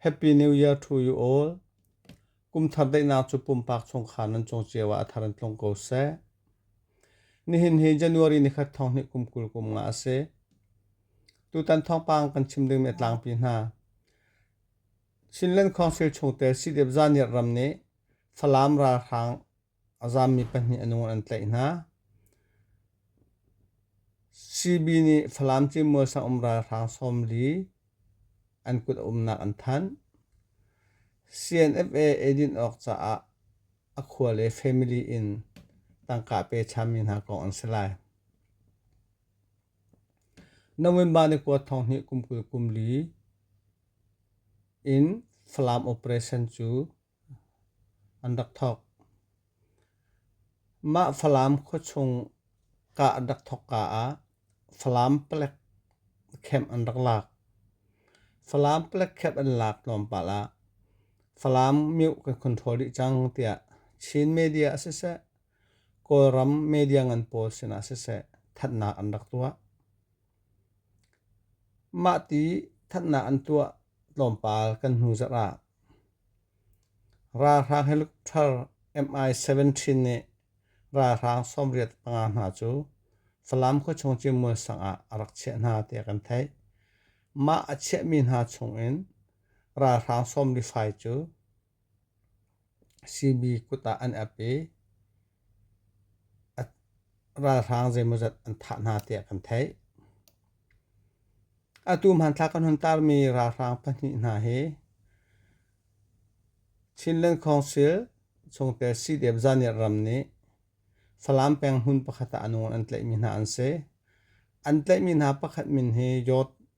Happy New Year to you all. Kumthar daihnak cu pumpak chungkhar nan cung cio ah a thar in tlung ko seh. Nihin hi January ni khat thong hnih kum kul kum nga a si. Tutan thongpang kan chim dingmi a tlangpi hna. Chinland Council chungte sidep zaniat ram nih Falam ralhrang A zaammi pahnih a nung an tlaih hna. CB nih Falam Cimual sang um ralhrang sawmli an kut a umnak an thanh. CNFA eidin awk caah a khua le family in tangka pe chami hna kong an si lai. November ni kua thong hnih kum kul kum li in Falam operation cu an rak thawk. Mah Falam khuachung kah rak thawk ka ah Falam palek camp an rak lak. Falam palek camp an lak tlawmpal ah Falam mih kan control rih cang tiah Chin media a siseh, Kawlram media ngan pawl sinah siseh thatnak an rak tuah. Mah ti thatnak an tuah tlawmpal kan hnu zarh ah Ralhrang helicopter MI-17 nih ralhrang sawmriat panga hna cu Falam khuachung cimual sangah a rak chiah hna tiah kan theih. Mah a chiahmi hna chungin ralhrang sawmli fai cu CB kut ah an ap i ralhrang zeimawzat an thah hna tiah kan theih. Atu hmanthlak kan hun tarmi ralhrang pahnih hna hi Chinland Council chungtel CDF Zaniat ram nih Falam peng hmun pakhat ah a nawn an tlaihmi hna an si. An tlaihmi hna pakhat min hi Yawt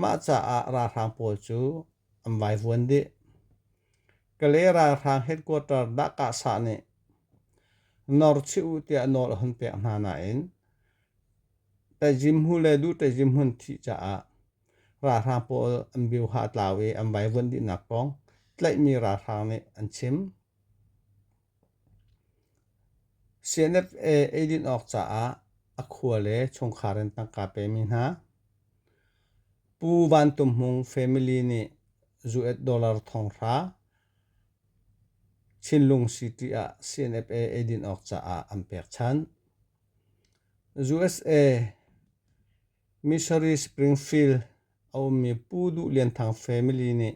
Mah caah ralhrang pawl cu an vaivuan dih. Kalay ralhrang headquarter Dahkahsa nih norchih u tiah nawl a hun pek hna nain Tejimhu le Duh Tejimhun thih caah ralhrang pawl an bioha tlau i an vaivuan dihnak kong tlaihmi ralhrang nih an chim. CNFA eidin awk caah a khua le chungkhar in tangka pemi hna. Pu Van Tum Hmung family nih US dollar thonghra Chinlung City ah CNFA eidin awk caah an pek than. USA Missouri Springfield a ummi Pu Duh Lian Thang family nih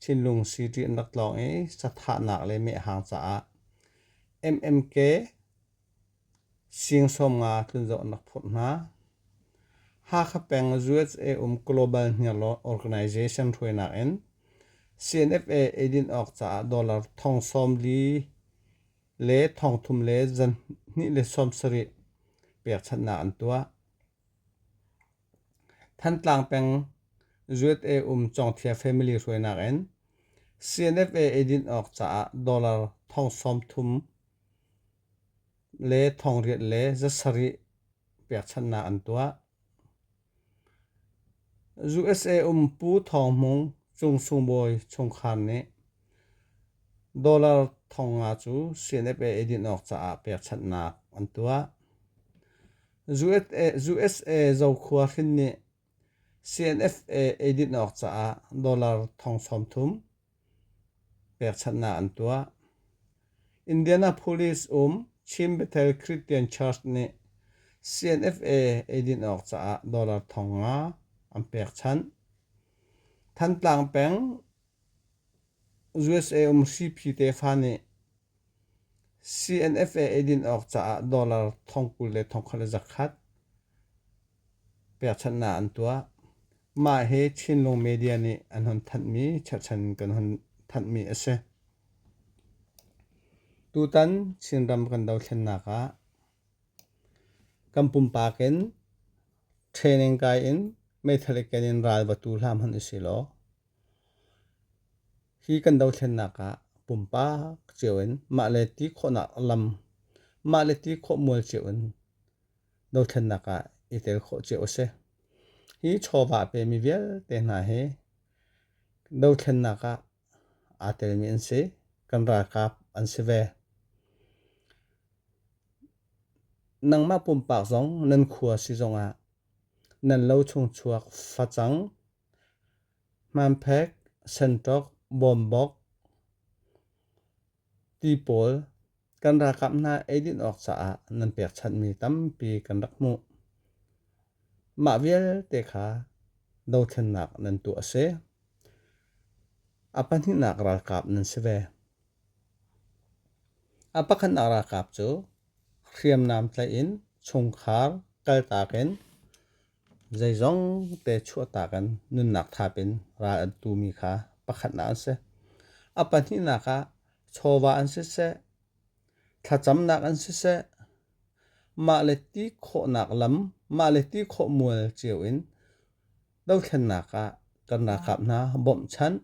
thinlung sitri an rak tlawng i sathahnak le mehhang caah MMK siang sawm nga tlunzoh an rak phurh hna. Hakha peng USA um Global Hniarlaw Organization hruainak in CNFA eidin awk caah dollar thong sawm li le thongthum le zan hnih le sawm sarih pekchanhnak an tuah. Thantlang peng Zuet-e um Cawngthia family hruainak in CNFA eidin awk caah dollar thong sawmthum le thong riat le zasarih pekchanhnak an tuah. usa um pu thawng hmung cung sung bawi chungkhar nih dollar thong nga cu cnfa edit awk caah pekchanhnak an tuah usa zokhua hrin nih cnfa edit awk caah dollar thong sawmthum pekchanhnak an tuah. Indianapolis um Chin Bethel Christian Church nih CNFA eidin awk caah dollar thong nga an pekchanh. Thantlang peng USA um CP tefa nih CNFA eidin awk caah dollar thongkul le thongkhat le zakhat pekchanhnak an tuah. Mah hi Chinlung media nih an hon thanhmi cherhchan in kan hon thanhmi a si. Tutan Chinram kan dothlennak ah kan pumpak in training kai in meithal i ken in ral va tu hlam hon i si law. Hi kan dothlennak ah pumpak cio in mah le ti khawhnak lam, mah le ti khawh mual cio in dothlennak ah i tel khawh cio a si. Hi chawva pemi vialte hna hi dothlennak ah aa telmi an si. Kan ralkap an si ve. Nangmah pumpak zong nan khua si zong ah nan lo chung chuak facang hmanphek sentawk bawmbok ti pawl kan ralkap hna eidin awk caah nan pekchanhmi tampi kan rak hmuh. Mah vialte kha dothlennak nan tuah a si. A pahnihnak ralkap nan si ve. A pakhatnak ralkap cu hriamnam tlaih in chungkhar kaltak in Zeizong te chuahtak in nunnak thap in ral an tu mi kha pakhatnak an si. A pahnihnak ah chawva an si seh, thlacamnak an si seh, mah le ti khawhnak lam, mah le ti khawh mual cio in dothlennak ah kan ralkap hna bawmhchanh,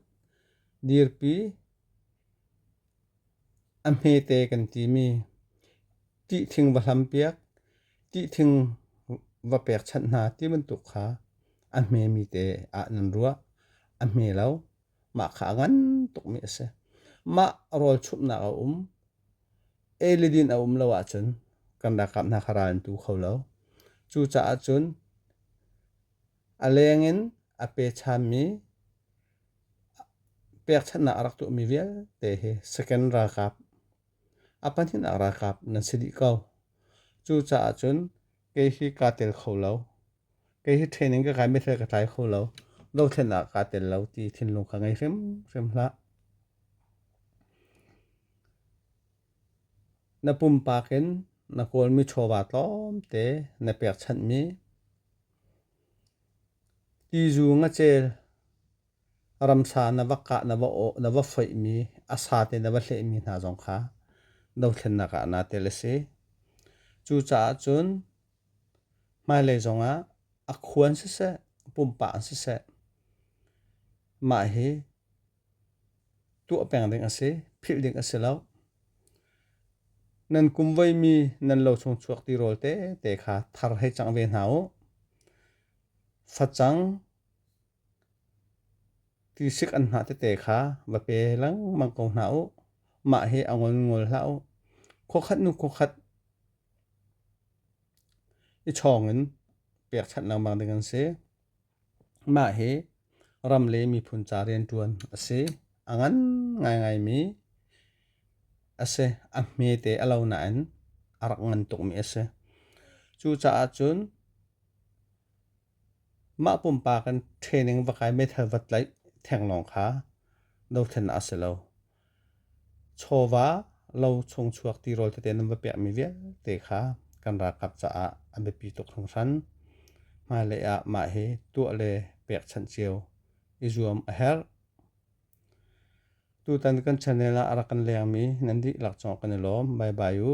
dirpi, A hmete kan timi. Tihthing va hlam piak, tihthing va pekchanh hna ti bantuk kha a hmemi te ah nan ruah. A hme lo. Mah kha a ngan tukmi a si. Mah rawlchumhnak a um. Ei le din a um lo ahcun kan ralkap hna kha ral an tu kho lo. Cucaah cun a leng in a pechanmi pekchanhnak a rak tuahmi vialte hi second ralkap a pahnihnak ralkap nan si dih ko. Cucaah cun kei hi kaa tel kho lo. Kei hi training ka kai mithil ka tlai kho lo. Dothlennak kaa tel lo ti thinlung ka ngei hrimhrim hlah. Na pumpak in na kawlmi chawva tlawmte na pekchanhmi Tizu ngacel ramsa na va kah na va awh na va foihmi a sa te na va hlehmi hna zong kha dothlennak ah na tel a si. Cucaah cun hmailei zongah a khuan siseh pumpak siseh mah hi tuah peng ding a si, philh ding a si lo. Nan kum veimi nan lo chung chuak ti rawl tete kha thar hei cang ve hna u. Facang, tisik an hna tete kha va pe lengmang ko hna u. Mah hi a ngolngol hlah u. Khuakhat nu khuakhat i chawng in pek chanh lengmang ding an si. Mah hi ram le miphun ca rianṭuan a si. A ngan ngaingaimi a si. A hmete a lo nain a rak ngan tukmi a si. Cucaah cun mah pumpak in training va kai meithal va tlaih theng lawng kha dothlennak a si lo. Chawva lo chungchuak tirawl tete nan va pekmi vialte kha kan ralkap caah a biapi tuk hringhran. Hmailei ah mah hi tuah le pekchanh cio i zuam a herh. Tutan kan channel ah a rak kan lengmi nan dihlak cawng kan i lawm. Bye bye u.